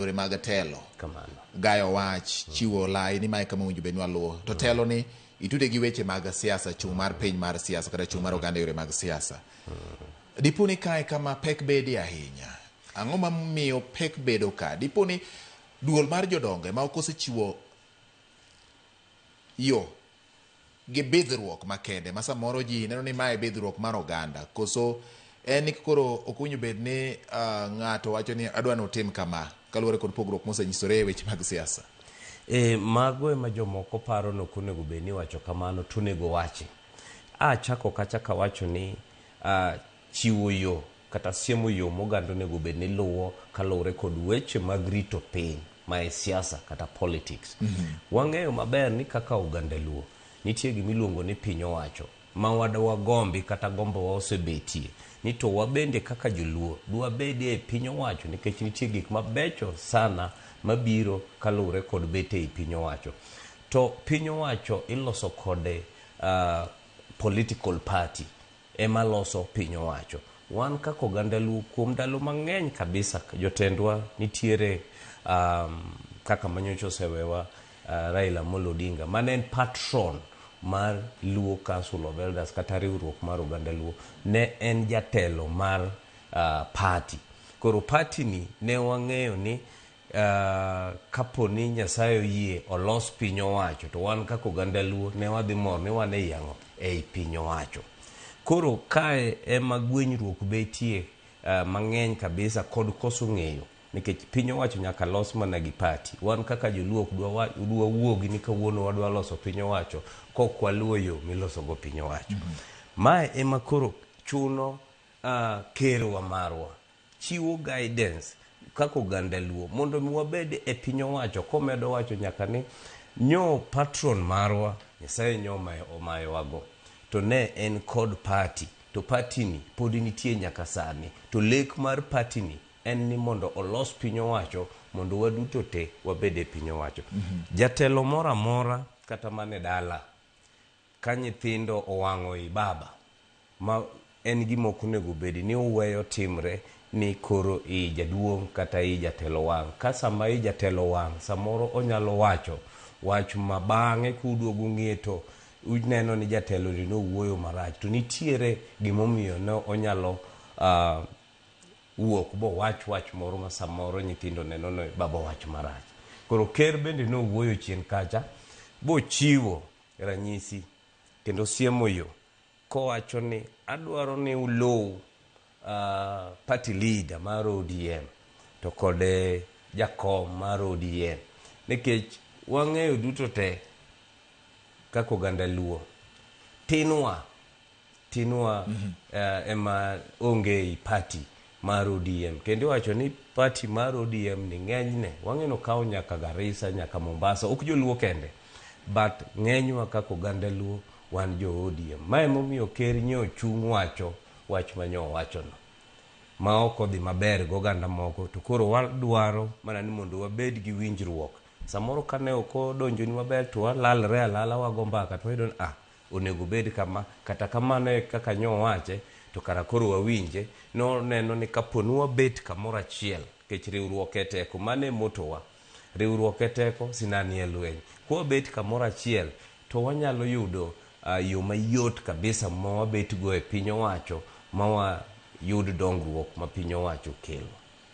yore mag telo Kamano. gayo wach chiwo lai ni mae kama owinjo bed ni waluwo to telo ni itude gi weche mag siasa chung' mar piny mar siasa kata chung' mar oganda e yore mag siasa dipo ni kae kama pek bedie ahinya ang'o mamiyo pek bedo ka dipo ni duol mar jodongo ema ok osechiwo yo gi bidhruok makende ma samoro ji neno ni mae bidhruok mar oganda koso en ni koro ok owinjo bed ni ah, ng'ato wacho ni adwa ni utim kama kaluwore kod pogruok mosenyisore e weche mag siasa. E, mago ema jomoko paro ni ok onego bed ni iwacho kamano, to onego wachi. A chako kacha kawacho ni a, chiwo yo kata siemo yo moganda onego bed ni luwo kaluwore kod weche mag rito piny ma e siasa kata politics. Wang'eyo maber ni kaka oganda Luo, nitie gima iluongo ni piny owacho ma wad wagombi kata gombowa osebetie ni to wabende kaka joluo dwabedie e piny owacho nikech nitie gik mabecho sana mabiro kaluwore kod bet ei piny owacho. To piny owacho iloso kode ah, political party. ema loso piny owacho. Wan kaka oganda Luo kuom ndalo mang'eny kabisa jotendwa nitiere kaka manyocha osewewa Raila Amolo Odinga mane en patron mar Luo Council of Elders kata riwruok mar oganda Luo ne en jatelo mar party. Koro party ni ne wang'eyo ni Kapo ni Nyasaye oyie olos piny owacho to wan kaka oganda Luo ne wadhi mor ni wan ei ang'o? Ei piny owacho. Koro kae ema gwenyruok betie mang'eny kabisa kod koso ng'eyo nikech piny owacho nyaka los mana gi party. Wan kaka joluo ok dwa wuogi ni kawuono wadwa loso piny owacho kok waluwo yo miloso go piny owacho. Mae ema koro chuno kerwa marwa chiwo guidance kaka oganda luo mondo mi wabed e piny owacho komedo wacho nyaka ni nyo patron marwa nyasaye nyo omayowago to ne en kod party to party ni pod nitie nyaka sani to lek mar party ni en ni mondo olos piny owacho mondo waduto te wabed e piny owacho mm -hmm. jatelo moro amora kata mane dala Ka nyithindo owang'o i baba ma en gima ok onego bedi ni uweyo timre ni koro i jaduong' kata i jatelo wang'. Ka sama i jatelo wang' samoro onyalo wacho wach ma bang'e kuduogo ung'e to uneno ni jatelo ni nowuoyo marach to nitiere gima omiyo ne onyalo wuok bowach wach moro ma samoro nyithindo neno ni baba owach marach. Koro ker bende nowuoyo chien kacha bochiwo ranyisi kendo siemo yo kowacho ni adwaro ni uluw uh, party leader mar ODM to kod eh, jakom mar ODM nikech wang'eyo duto te kaka oganda luo tinwa Tinwa mm -hmm. uh, ema onge i party mar ODM kendo iwacho ni party mar ODM ni ng'enyne wang'eno kawo nyaka Garissa nyaka Mombasa ok joluo kende but ng'enywa kaka oganda luo wan jo ODM ma emomiyo ker nye ochung' wacho wach ma nyo owachono ma ok odhi maber gi oganda moko to koro wadwaro mana ni mondo wabed gi winjruok samoro kane ok odonjoni maber to walalre alala wago mbaka to wayudo ni ah Onego obed kama. Kata kamano e kaka nyo owache, to kara koro wawinje. Noneno ni kapo ni wabet kamoro achiel, kech riwruok e teko. Mano e motto wa. Riwruok e teko, sinani e lweny. Kwabet kamoro achiel, to wanyalo yudo yo mayot kabisa ma wabet go e piny owacho ma wayud dongruok ma piny owacho kelo.